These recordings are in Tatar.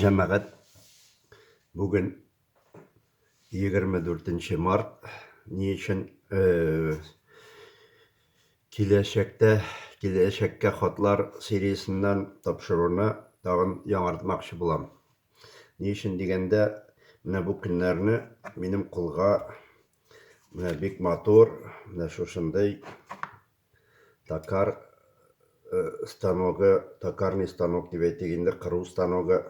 Җәмәгать, бүген 24 март. Ни өчен киләчәктә, киләчәккә хатлар сериясеннән тапшыруны тагын яңартмакчы булам. Ни өчен дигәндә, менә бу көннәрне минем кулга менә бик матур, менә шушындый Токар э, станогы, токарный станок дип әйтик инде, кыру станогы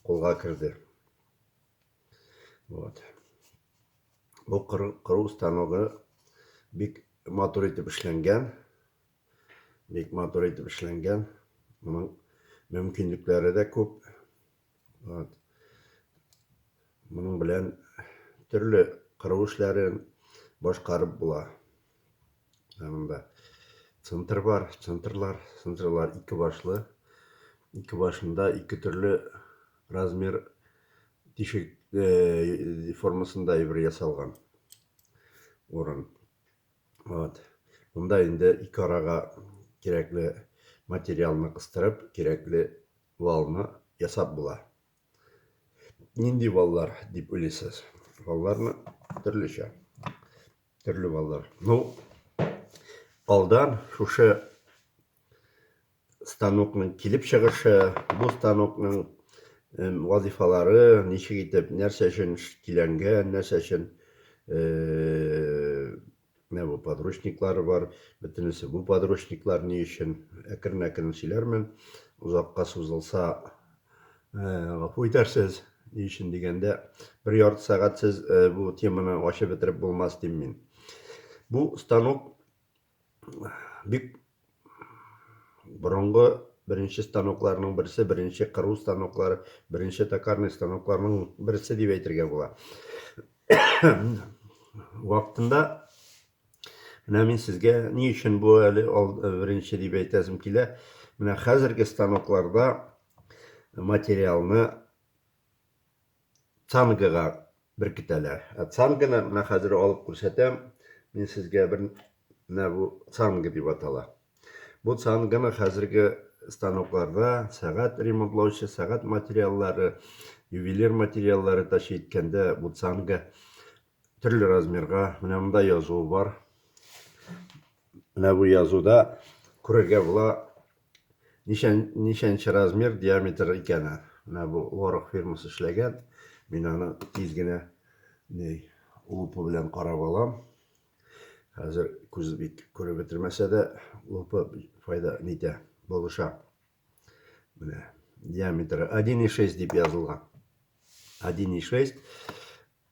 кулга керде. Вот. Бу кыру станогы бик матур итеп эшләнгән. Бик матур итеп эшләнгән. Моның мөмкинлекләре дә күп. Вот. Моның белән төрле кыру эшләрен башкарып була. Янында центр бар, центрлар, центрлар ике башлы. Ике башында ике төрле размер тишек э, формасында ибр ясалган урын. Вот. Монда инде ике арага кирәкле материалны кыстырып, кирәкле валны ясап була. Нинди валлар дип уйлыйсыз? Валларны төрлечә. Төрле валлар. Ну, алдан шушы станокның килеп чыгышы, бу станокның вазифалары, ничек итеп, нәрсә өчен киләнгән, нәрсә өчен Менә бу подручниклары бар, бөтенесе бу подручниклар ни өчен? Әкрен-әкрен сөйләрмен, озакка сузылса, гафу итәрсез. Ни өчен дигәндә, бер ярты сәгать сез бу теманы ачып бетереп булмас дим мин. Бу станок бик Борынгы беренче станокларның берсе, беренче кыру станоклары, беренче токарный станокларның берсе дип әйтергә була. Вакытында менә мин сезгә ни өчен бу әле беренче дип әйтәсем килә. Менә хәзерге станокларда материалны цангага беркетәләр. Ә цанганы менә хәзер алып күрсәтәм. Мин сезгә бер менә бу цанга дип атала. Бу цанганы хәзерге станокларда сәгать ремонтлаучы, сәгать материаллары, ювелир материаллары ташый иткәндә бу цанга Төрле размерга менә монда язуы бар. Менә бу язуда күрергә була ничән, ничәнче размер диаметр икәне. Менә бу Лорак фирмасы эшләгән. Мин аны тиз генә ней лупа белән карап алам. Хәзер күз бик күреп бетермәсә дә лупа файда нитә, булыша. Менә диаметры 1,6 дип язылган. 1,6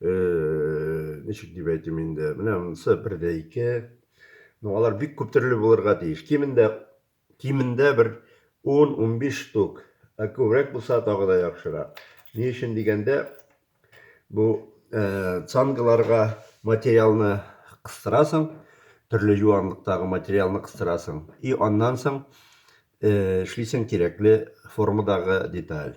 э, ничек дип әйтим инде, менә монысы бер дә ике. Ну, алар бик күп төрле булырга тиеш. Кимендә кимендә бер 10-15 штук. Ә күбрәк булса тагы да яхшырак. Ни өчен дигәндә, бу э, цангаларга материалны кыстырасың, төрле юанлыктагы материалны кыстырасың. И аннан соң э, эшлисең кирәкле формадагы деталь.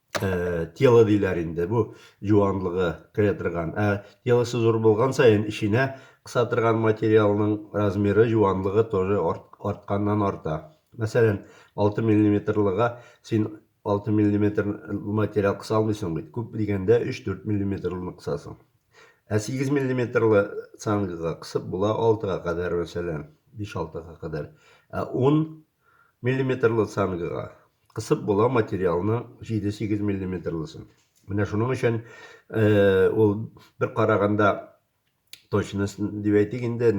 э, тело диләр инде бу юанлыгы керә торган ә телосы зур булган саен эченә кыса торган материалның размеры юанлыгы тоже артканнан арта мәсәлән 6 миллиметрлыга син 6 миллиметр материал кыса алмыйсың бит күп дигәндә 3-4 миллиметрлыны кысасың ә 8 миллиметрлы цангага кысып була 6-га кадәр мәсәлән 5-6-га кадәр ә 10 миллиметрлы цангага кысып була материалны 7-8 миллиметрлысын. Менә шуның өчен э, ул бер караганда точность дип әйтик инде,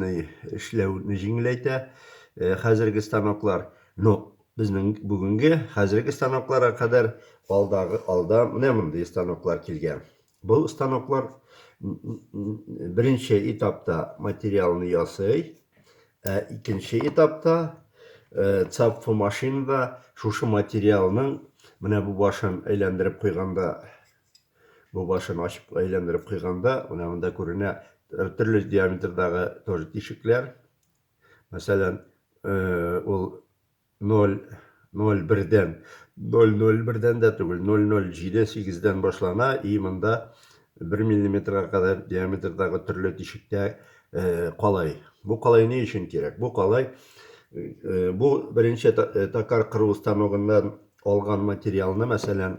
эшләүне җиңеләйтә э, хәзерге станоклар. Но безнең бүгенге хәзерге станокларга кадәр алдагы алда менә мондый станоклар килгән. Бу станоклар беренче этапта материалны ясый, ә икенче этапта цапфу машинада шушы материалның менә бу башын әйләндереп куйганда, бу башын ачып әйләндереп куйганда, менә монда күренә төрле диаметрдагы тоже тишекләр. Мәсәлән, ул Ноль, ноль бердән, ноль ноль бердән дә түгел, ноль ноль җиде сигездән башлана и монда бер миллиметрга кадәр диаметрдагы төрле тишектә калай. Бу калай ни өчен кирәк? Бу калай, бу беренче токар кыру станогыннан алган материалны, мәсәлән,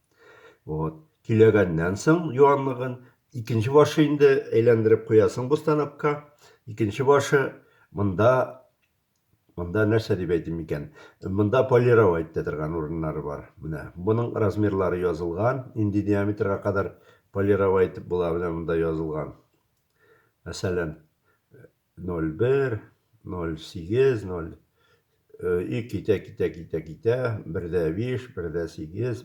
Вот. Көйләгәннән соң юанлыгын, икенче башы инде әйләндереп куясың бу станокка. Икенче башы монда монда нәрсә дип әйтим микән? Монда полировать итә торган урыннары бар. Менә моның размерлары язылган, нинди диаметрга кадәр полировать итеп була, менә монда язылган. Мәсәлән, 01, 08, 0, и китә, китә, китә, китә, бердә 5, бердә 8,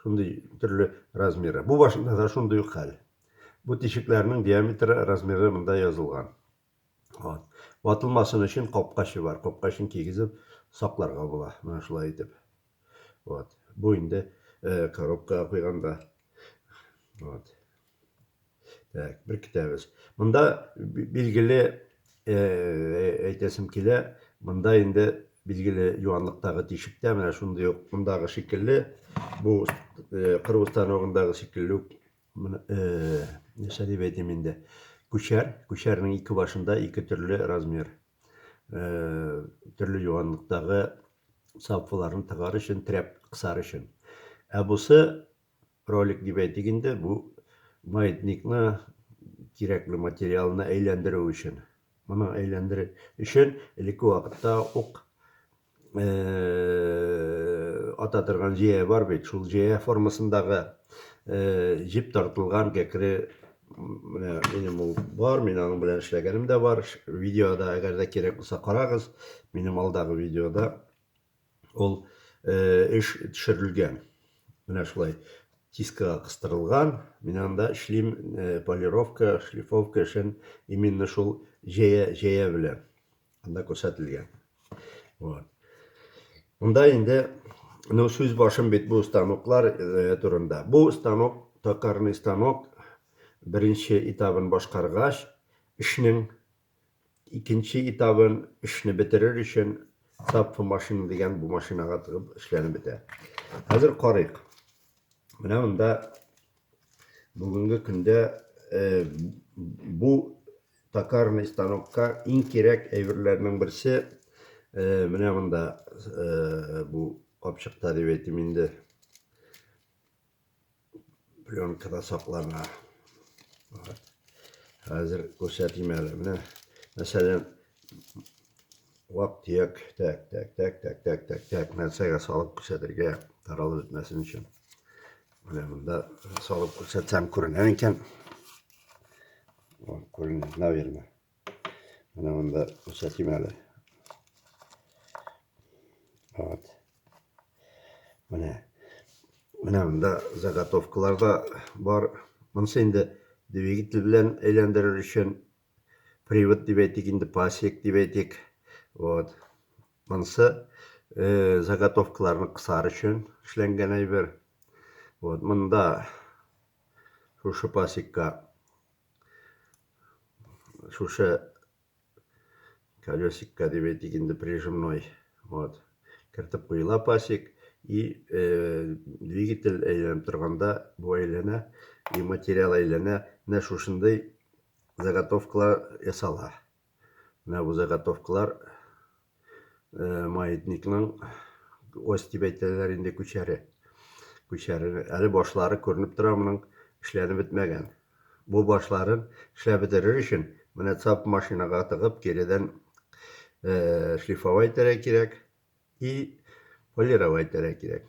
шундый төрле размеры. Бу башында да шундый ук хәл. Бу тишекләрнең диаметры, размеры монда язылган. Вот. Ватылмасын өчен капкачы бар. Капкачын кигезеп сакларга була. Менә шулай итеп. Вот. Бу инде э, коробкага куйганда. Вот. Так, бер китәбез. Монда билгеле э, әйтәсем килә, монда инде билгеле юанлыктагы тишек тә менә шундый ук мондагы шикелле, бу э, кыру станогындагы шикелле үк э, нәрсә дип әйтим инде. Күчәр, күчәрнең ике башында ике төрле размер. Э, төрле юанлыктагы Саффыларны тыгар өчен, терәп кысар өчен. Ә бусы, ролик дип әйтик инде, бу маятникны, кирәкле материалны әйләндерү өчен. Моны әйләндерү өчен элекке вакытта ук ата торган җәя бар бит, шул җәя формасындагы җеп тартылган кәкре Менә минем ул бар, мин аның белән эшләгәнем дә бар. Видеода, әгәр дә кирәк булса, карагыз. Минем алдагы видеода ул эш төшерелгән. Менә шулай тискага кыстырылган. Мин анда эшлим полировка, шлифовка эшен именно шул җәя, җәя белән. Анда күрсәтелгән. Вот. Монда инде ну сүз башым бит бу станоклар э, турында. Бу станок, токарный станок беренче этабын башкаргач, эшнең икенче этабын эшне бетерер өчен тапфы машина дигән бу машинага тыгып эшләнеп бетә. Хәзер карыйк. Менә монда бүгенге көндә э, бу Токарный станокка иң кирәк әйберләрнең берсе менә монда бу капчыкта дип әйтим инде. Пленкада саклана. Хәзер күрсәтим әле. Менә мәсәлән, вак-төяк, тәк, тәк, тәк, тәк, тәк, тәк, тәк, нәрсәгә салып күрсәтергә таралып бетмәсен өчен. Менә монда салып күрсәтсәм күренә икән. О, күренә, наверное. Менә монда күрсәтим әле. Вот. Менә. Менә монда заготовкалар да бар. Монысы инде двигатель белән әйләндерер өчен привод дип әйтик, инде пасек дип әйтик. Вот. Монысы э, заготовкаларны кысар өчен эшләнгән әйбер. Вот, монда шушы пасекка шушы колесикка дип әйтик инде прижимной вот кертеп куела пасек и э, двигатель әйләнеп торганда бу әйләнә и материал әйләнә менә шушындый заготовкалар ясала менә бу заготовкалар маятникның ось дип әйтәләр инде күчәре. Күчәре әле башлары күренеп тора моның эшләнеп бетмәгән. Бу башларын эшләп бетерер өчен менә цап машинага тыгып киредән э, шлифовать итәргә кирәк и полировать итәргә кирәк.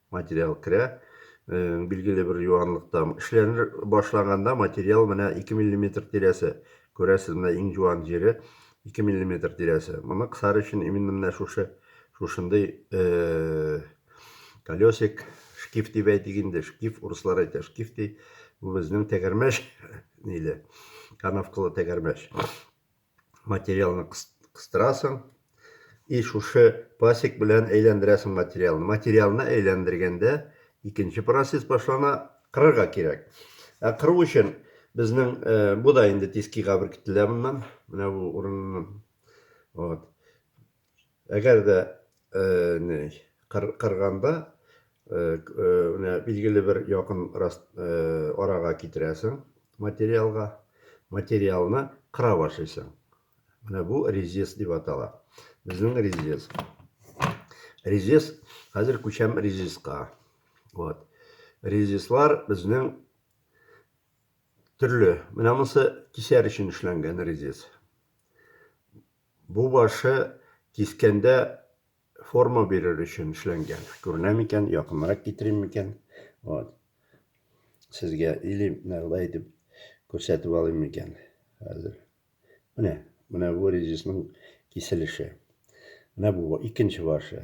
Материал керә. Билгеле бер юанлыкта. Эшләнер башлаганда материал менә 2 миллиметр тирәсе. Күрәсез, менә иң юан җире 2 миллиметр тирәсе. Моны кысар өчен именно менә шушы шушындый колесик, шкиф дип әйтик инде, шкиф, урыслар әйтә шкиф ди. Бу безнең тәгәрмәч ниле, канавкалы тәгәрмәч. материалны кыстырасың и шушы пасек белән әйләндерәсең материалны материалны әйләндергәндә икенче процесс башлана кырырга кирәк ә кыру өчен безнең ә, э, бу да инде тискига беркетелә моннан менә бу урыннан вот Әгәр дә не кырганда менә билгеле бер якын арага китерәсең материалга, материалны кыра башлыйсың. Менә бу резец дип атала. Безнең резец. Резец, хәзер күчәм резецка. Вот. Резецлар безнең төрле. Менә монысы кисәр өчен эшләнгән резец. Бу башы кискәндә форма бирер өчен эшләнгән. Күренә микән? Якынрак китерим микән? Вот. Сезгә или нәрдә итеп күрсәтеп алыйм микән? Хәзер. Менә, менә бу резисның киселеше. Менә бу икенче башы.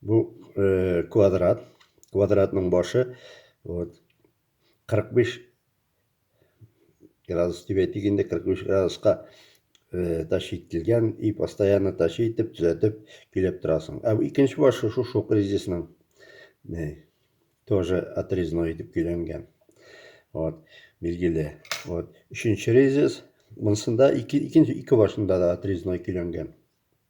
Бу э, квадрат. Квадратның башы вот 45 градус дип әйтик инде 45 градуска э, тащи ителгән и постоянно тащи итеп төзәтеп көйләп торасың. Ә икенче башы шушы шушы кризисның э, тоже отрезной итеп көйләнгән. Вот, билгеле. Вот, өченче резец. Монсында ике, икенче ике башында да отрезной көйләнгән.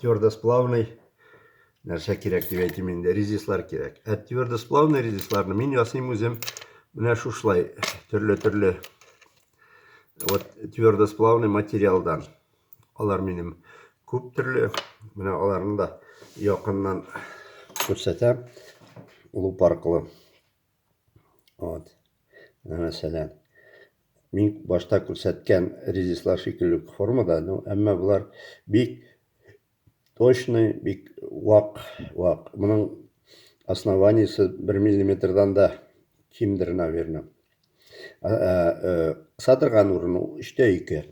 твердосплавный нәрсә кирәк дип әйтим инде, резислар кирәк. Ә твердосплавный резисларны мин ясыйм үзем менә шушылай төрле-төрле вот твердосплавный материалдан. Алар минем күп төрле. Менә аларны да якыннан күрсәтәм. Луп аркылы. Вот. Менә мәсәлән, мин башта күрсәткән резислар шикелле үк формада, ну, әмма болар бик точный, бик вак, вак. Моның основаниесе 1 миллиметрдан да кимдер, наверное. Кыса торган урыны 3-тә 2.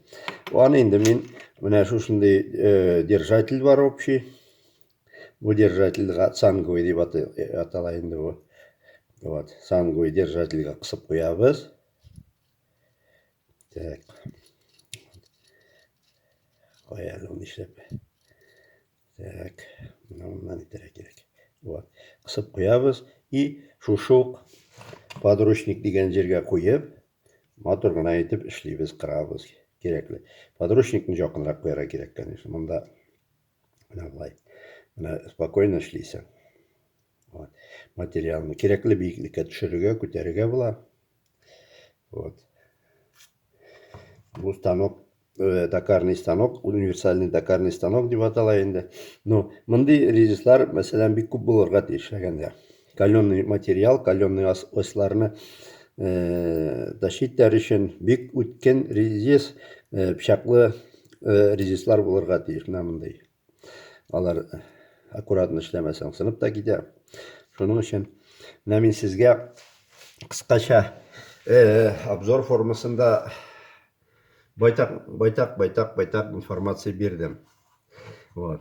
Аны инде мин менә шушындый держатель бар общий. Бу держательгә цангуй дип атала инде бу. Вот, цангуй держательгә кысып куябыз. Так. Каяны ул нишләп? Так, моннан итәргә кирәк. Вот, кысып куябыз и шушы ук подручник дигән җиргә куеп, матур гына итеп эшлибез, кырабыз. Кирәкле. Подручникны якынрак куярга кирәк, конечно. Монда менә болай менә спокойно эшлисең вот. материалны кирәкле биеклеккә төшерергә күтәрергә була вот. бу станок э, дакарный станок универсальный дакарный станок дип атала инде ну мондый ризислар мәсәлән бик күп булырга тиеш әгәндә Каленый материал, каленый осларны да читләр өчен бик үткен резис, пчаклы резислар булырга тиеш менә мондый. Алар аккуратно эшләмәсәң сынып та китә. Шуның өчен менә мин сезгә кыскача обзор формасында байтак байтак байтак байтак информация бирдем. Вот.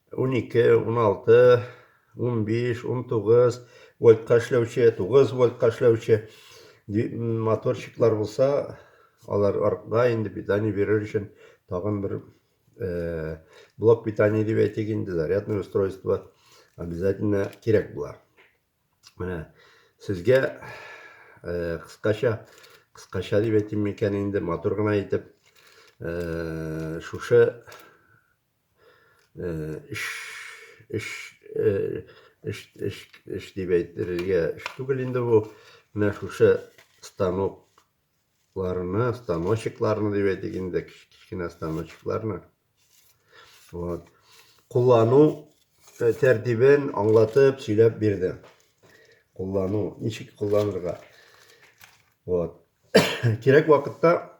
12, 16, 15, 19 вольтка эшләүче, 9 вольтка эшләүче моторчиклар булса, алар артта инде питание бирер өчен тагын бер э, блок питания дип әйтик инде, зарядное устройство обязательно кирәк була. Менә сезгә э, кыскача, кыскача дип әйтим микән инде, матур гына итеп, э, шушы эш эш эш эш эш дип әйтергә эш түгел инде бу менә шушы станокларны станочекларны дип әйтик инде кечкенә станочекларны вот куллану тәртибен аңлатып сөйләп бирде куллану ничек кулланырга вот кирәк вакытта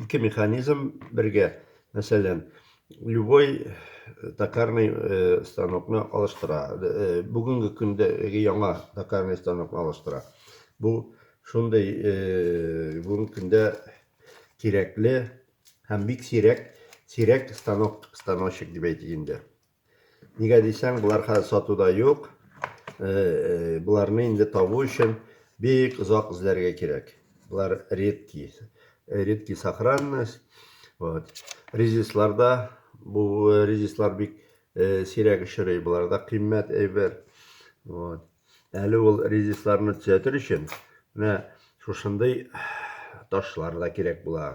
ике механизм бергә, мәсәлән, любой э, токарный э, станокны алыштыра. Э, бүгенге көндә яңа токарный станокны алыштыра. Бу шундый бүгенге көндә кирәкле һәм бик сирәк, сирәк станок, станочек дип әйтик инде. Нигә дисәң, болар хәзер сатуда юк. Боларны инде табу өчен бик озак эзләргә кирәк. Болар редки. Редки сохранность. Вот. Резисларда бу резислар бик сирәк очрый. Боларда кыйммәт әйбер. Вот. Әле ул резисларны төзәтер өчен менә шушындый ташлар да кирәк була.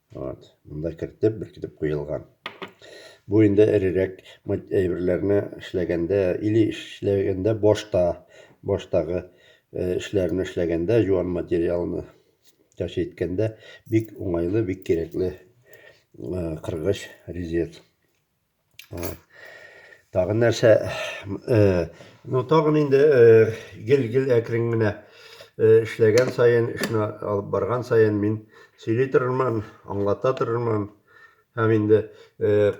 Вот, монда кертеп, беркетеп куелган. Бу инде эрерәк әйберләрне эшләгәндә или эшләгәндә башта, баштагы э, эшләрне эшләгәндә, юан материалны тәш иткәндә бик уңайлы, бик кирәкле э, кыргыч резец. Тагын нәрсә, ну тагын инде гел-гел әкрен генә эшләгән саен, эшне алып барган саен мин сөйли торырмын, аңлата торырмын. Һәм инде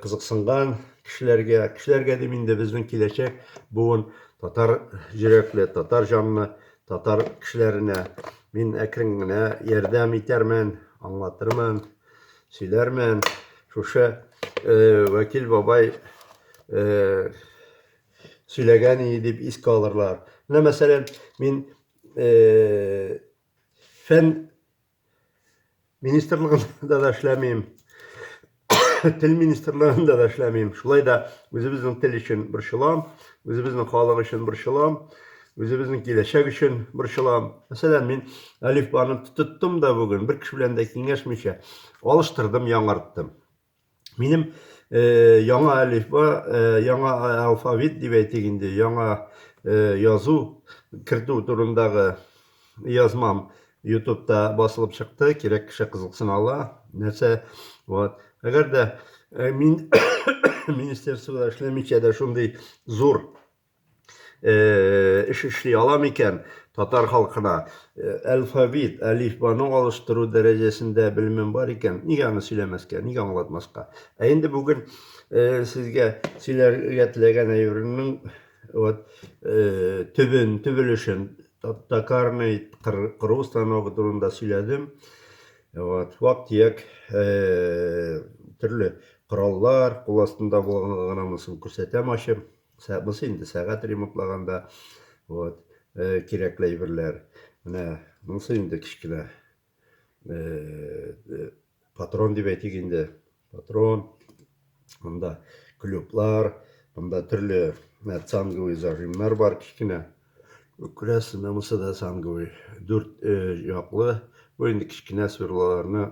кызыксынган кешеләргә, кешеләргә дим инде безнең киләчәк буын татар йөрәкле, татар җанлы, татар кешеләренә мин әкрен генә ярдәм итәрмен, аңлатырмын. Сөйләрмен, шушы э, Вәкил бабай э, сөйләгән иде дип искә алырлар. Менә мәсәлән, мин э, фән министрлыгында да эшләмим, тел министрлыгында да эшләмим. Шулай да үзебезнең тел өчен борчылам, үзебезнең халык өчен борчылам. Үзебезнең киләчәк өчен борчылам. Мәсәлән, мин әлифбаны тоттым да бүген, бер кеше белән дә киңәшмичә, алыштырдым, яңарттым. Минем яңа әлифба, яңа алфавит дип әйтик инде, яңа язу кертү турындагы язмам ютубта басылып чыкты, кирәк кеше кызыксына ала. Нәрсә, вот. Әгәр дә мин министерствода эшләмичә дә шундый зур эш эшли ала микән татар халкына? Алфавит, әлифбаны алыштыру дәрәҗәсендә белемем бар икән, нигә аны сөйләмәскә, нигә аңлатмаска? Ә инде бүген сезгә сөйләргә теләгән әйберемнең вот төбен, төбелешен, токарный кыру станогы турында сөйләдем. Вот, вак-төяк төрле кораллар, кул астында булганлыгын күрсәтәм ачып. Сә, бусы инде сәгать ремонтлаганда, вот, э, кирәкле әйберләр. Менә монсы инде кечкенә, э, патрон дип әйтик инде, патрон. Монда клюблар, монда төрле менә цанговый зажимнар бар кечкенә. Күрәсез, менә монсы да цанговый, дүрт э, яклы. Бу инде кечкенә сверлоларны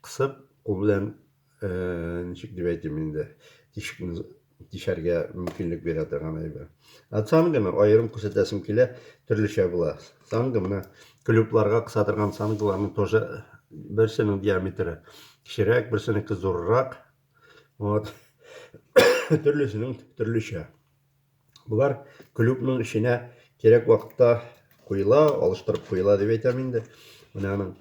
кысып, кул белән ничек дип әйтим инде, тишекне тишәргә мөмкинлек бирә торган әйбер. Ә цанга мен аерым күрсәтәсем килә, төрлечә була. Цанга менә клюбларга кыса торган цангаларның тоже берсенең диаметры кечерәк, берсенеке зуррак. Вот. Төрлесенең төрлечә. Болар клюкның эченә кирәк вакытта куела, алыштырып куела дип әйтәм инде. Менә аның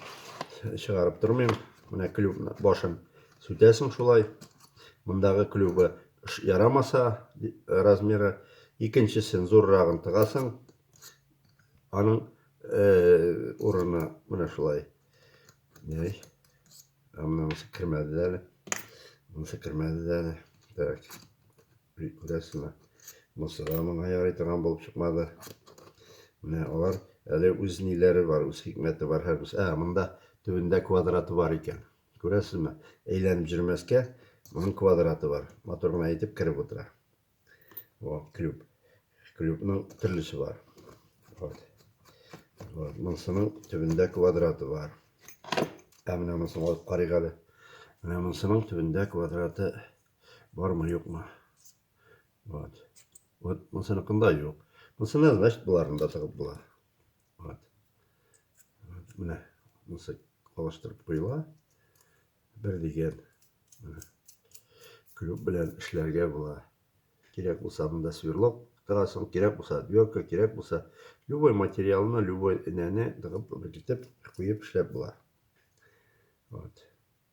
чыгарып тормыйм. Менә клюкны башын сүтәсең шулай. Мондагы клюбы ярамаса размеры, икенчесен зуррагын тыгасың. Аның э, урыны менә шулай. Яй. Әмма монысы кермәде дә әле. Монысы кермәде дә әле. Так. Күрәсезме? Монысы да моңа ярый торган булып чыкмады. Менә алар әле үз ниләре бар, үз хикмәте бар һәр Ә, монда төбендә квадраты бар икән. Күрәсезме? Әйләнеп җөрмәскә, моның квадраты бар. Матур гына итеп кереп утыра. О, клюб. Клюбның төрлесе бар. Вот. Вот. Монсының төбендә квадраты бар. Ә менә монысын алып карыйк әле. Менә монсының төбендә квадраты бармы, юкмы? Вот. Вот монсыныкында юк. Монсына, значит, боларында тыгып була. Вот. вот менә монысы алыштырып куела. Бер дигән менә клюк белән эшләргә була. Кирәк булса монда сверлок тыгасың, кирәк булса дверка, кирәк булса любой материалны, любой энәне тыгып, бекитеп, куеп эшләп була. Вот.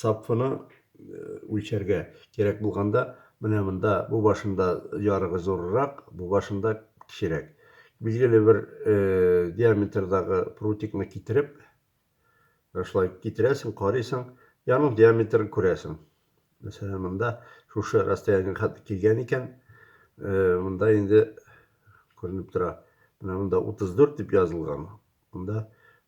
сапфыны үлчәргә кирәк булганда, менә монда бу башында ярыгы зуррак, бу башында кечерәк. Билгеле бер диаметрдагы прутикны китереп, шулай китерәсең, карыйсың, яның диаметрын күрәсең. Мәсәлән, монда шушы расстояниега килгән икән, монда инде күренеп тора. Менә монда 34 дип язылган. Монда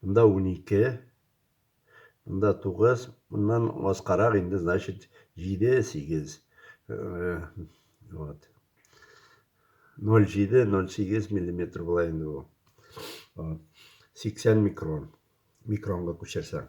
Монда унике, монда тугыз, моннан аскарак инде, значит, җиде, сигез. Вот. 0,7-0,8 миллиметр була инде бу. 80 микрон. Микронга күчерсәң.